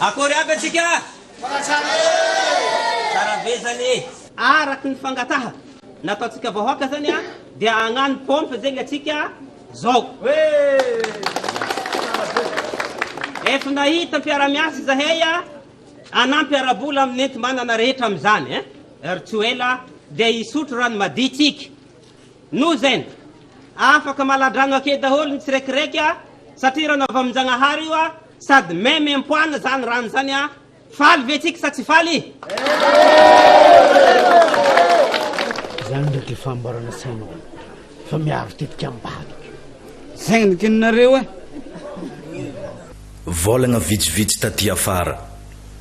Akory aby atsika a! Mbola tsara e! Tsara be zany e! Araky ny fangataha nataontsika vahoaka zany a dia hagnano pompe zegny atsika zao. Ef nahita mpiara-miasa izahay a hanampy ara-bola amin'ny enti-manana rehetra amin'izany eh! Ry tsy ho ela dia hisotro rano madio tsika. Noho zegny, afaka maladrano ake daholo ny tsirekiraiky a satria rano avy amin-Jagnahary io a! Sady meme empoana zany rano zany a! Faly ve tsika sa tsy faly? Zany ndray ty fahambarana sainao fa miaro tetika ambadika. Zay no tianareo e! Volagna vitsivitsy taty afara.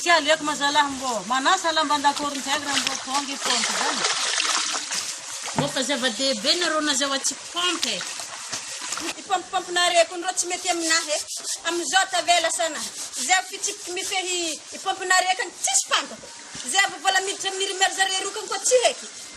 Tsy aleoko ma zalah mbô manasa lamba andakory ndraiky ra mbô tonga i Pompe zany. Mboka zava-dehibe nareo nazao atsy pompe. Ny pompe pompe nareo kony rô tsy mety aminah e amizao tavela sana zay avy fitsipiky mifehy i pompe nareo kany tsisy fantako zay avy vola miditra aminy ry mère zareo roa kany koa tsy heky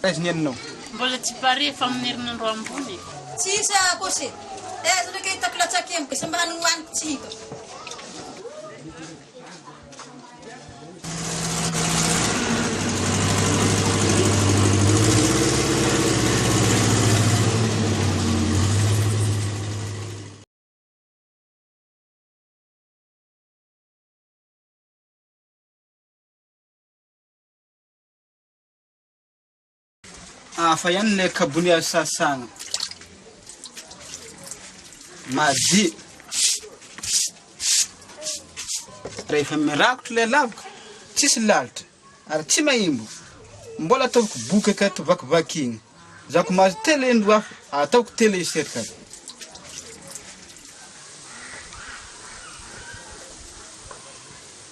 Taiza ny anao? Mbola tsy pare fa amin'ny herinandro ambony e. Tsisy akose taiza ndray ka hitako latsake mbe samy manana ny hohaniko tsy hitako. Hafa ihany ilay kabony azo sasana. Madio. Rehefa mirakotra ilay laviko, tsisy lalitra ary tsy mahimbo. Mbola ataoviko bokaka to vakivakina. Za ko mahazo telo indro hafa, ataoko telo iserika.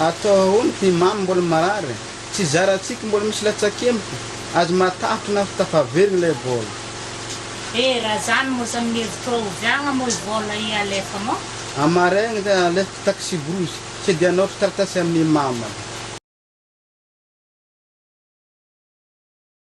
Atao ahoana ty Mamy mbola marary e! Tsy zara tsiky mbola misy latsakemboky azy matahotry afo tafaverigny lay vôla. E raha zany moa sa amin'ny hevitrao ovy agna moa i vôla i Alefa moa? Amaraigny le alefiko taxi brousse se de anaotro taratasy amin'i Mama le.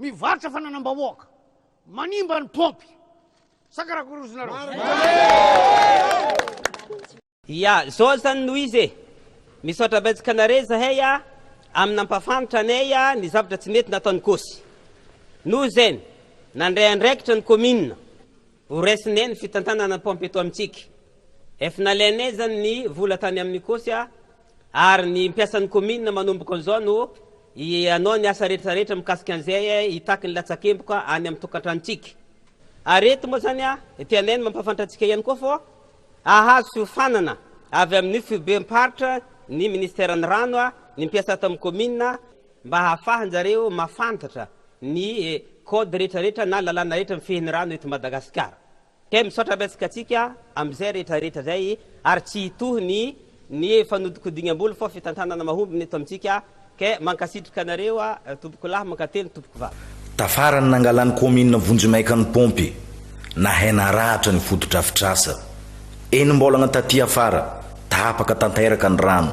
Mivarotra fananam-bahoaka, manimba ny paompy. Sa karakory ozinareo? Marina! Ya, zao zany no izy e! Misaotra betsaka anaré zahay a, am nampafantra anay a ny zavatra tsy mety nataony kosy. Noho zen, nandray andraikitra ny commune ho raisinay ny fitantanana ny paompy eto amintsika. Ef nalainay zany ny vola tany aminy kosy a, Ary ny mpiasan'ny Kaominina manomboka an'izao no hanao ny asa rehetrarehetra mikasika an'izay hitaky ny latsakemboka any amin'ny tokantranontsika. Ary eto moa izany tianay ny mampahafantatra antsika ihany koa fa hahazo fiofanana avy amin'ny Foibem-paritra ny Minisiteran'ny Rano ny mpiasa ato amin'ny Kaominina mba hahafahan-jareo mahafantatra ny Code rehetrarehetra na lalàna rehetra mifehy ny rano eto Madagasikara. Dia misaotra betsaka antsika amin'izay rehetra rehetra izay ary tsy hitohy ny ny fanodikodignam-bola fa fitantanana mahomby ny eto amintsika ka mankasitrika anareo tompoko lahy mankately tompoko vavy. Tafarany nangalan'ny kaominina vonjimaika ny paompy nahay naratra ny fotodrafitrasa. Enim-baolagna taty afara, tapaka tanteraka ny rano.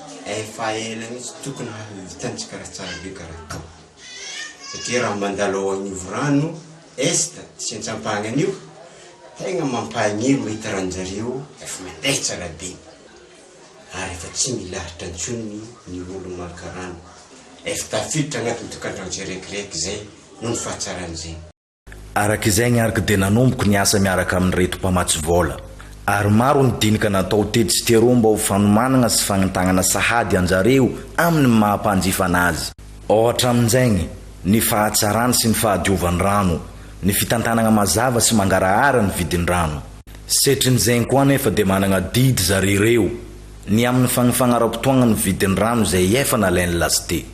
Efa ela mihitsy tokony hahavitantsika raha tsara be ka raha atao. Satria raha mandalo ao Anivo Rano Est sy Antsampahagna anio, tegna mampahagnino mahita ranjareo efa mandeha tsara be ary efa tsy milahatra intsony ny olo maka rano. Efa tafiditra agnatin'ny tokantrano tsirekireky zay noho ny fahatsaran'izay. Araka izay ny arko dia nanomboka ny asa miaraka amin'ireto mpamatsy vola, ary maro ny dinika natao tetsy sy teroa mba ho fanomanana sy fagnantagnana sahady anjareo amin'ny maha mpanjifana azy. Ao hatramin'izagny, ny fahatsarany sy ny fahadiovan'ny rano, ny fitantanagna mazava sy mangarahara ny vidin-drano. Setrin'izegny koa anefa dia managna adidy zareo ireo ny amin'ny fagnifagnara-potoagna ny vidin-drano izay efa nalain'ny last.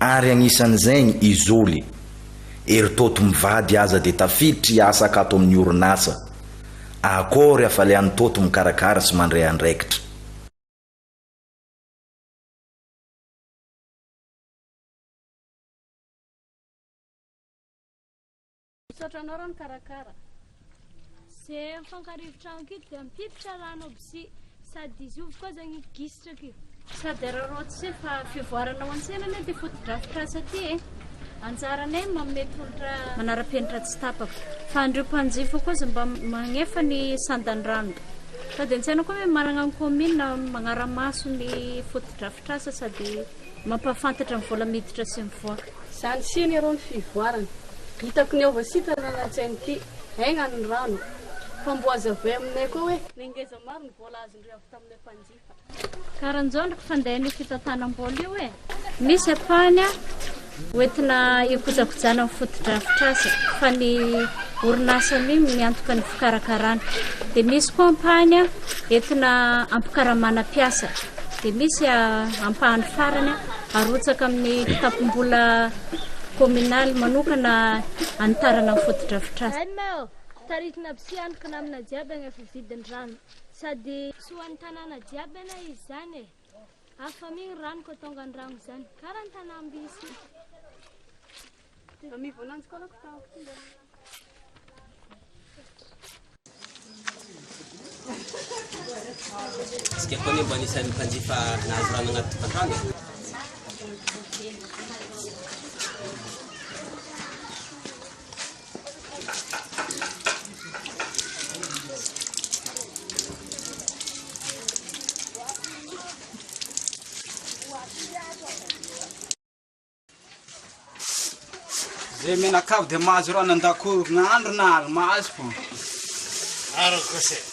ary anisan'izany i Zoly. Eritoto mivady aza dia tafiditra hiasaka ato amin'ny orinasa Accor afa le an'i Toto mikarakara sy mandray andraikitra. Misaotra anao raha mikarakara. Ze mifankario efitrano kito dia mipipitra raha anao bsi sady dizovy koa zany gisitra kio. Sady araraoty se fa fivoarana ao an-tsena anie ty fotodrafitrasa ty e. Anjaranay ny manome tolotra manara-penitra tsy tapaka. Fa andreo mpanjifa koa za mba magnefa ny sandandrano. Sady an-tsaina koa ny hoe managna ny commune magnara-maso ny fotodrafitrasa sady. Mampahafantatra ny vola miditra sy mivoaka. Zany si anie rô ny fivoarana. Hitako ny ao Vasita no nanantsaina ity. Aigna ny rano. Fa mbo aza avoay aminay koa hoe. Ny ngeza maro ny vola azondrio avy taminay mpanjifa. Karanjao ndry fandehan'io fitantanam-bola io e! Misy ampahany an! Hoentina hikojakojana ny fotodrafitrasa fa ny orinasa mim miantoka ny fikarakarana. Dia misy koa ampahany entina hampikaramana mpiasa. Dia misy ampahany farany arotsaka amin'ny kitapom-bola kominaly manokana hanitarana ny fotodrafitrasa. Taritina aby sy antoka namana jiaby agna fividin-drano sady soan'ny tanàna jiaby ana izy zany e! Avy fami ny rano ko tonga ny rano zany kara ny tanamby sy Ami vonanjy koa ko tao Tsika koa mba anisan'ny mpanjifa nahazo rano anaty tavoahangy. Zay menakavy dia mahazo rano an-dakoro na andro na alina mahazo fô. Ara-kose.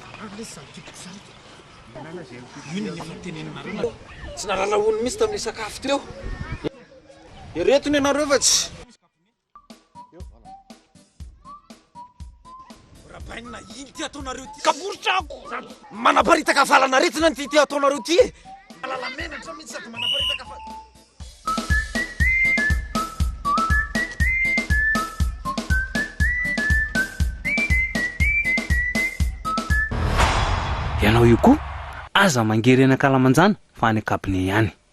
Marary lesy zany tiako zany ka. Inona no noteneninareo nareo? Tsy nahalala ony mihitsy tamin'ilay sakafo teo. Ireto ny anareo fa tsy. Rabaina iny ity ataonareo ity. Kaporitrako. Manaparitaka fahalan'aretina ity ity ataonareo ity. Alala menatra mihitsy sady manaparitaka fa. Ianao io koa, aza mangery any ankalamanjana fa any an-kabine ihany.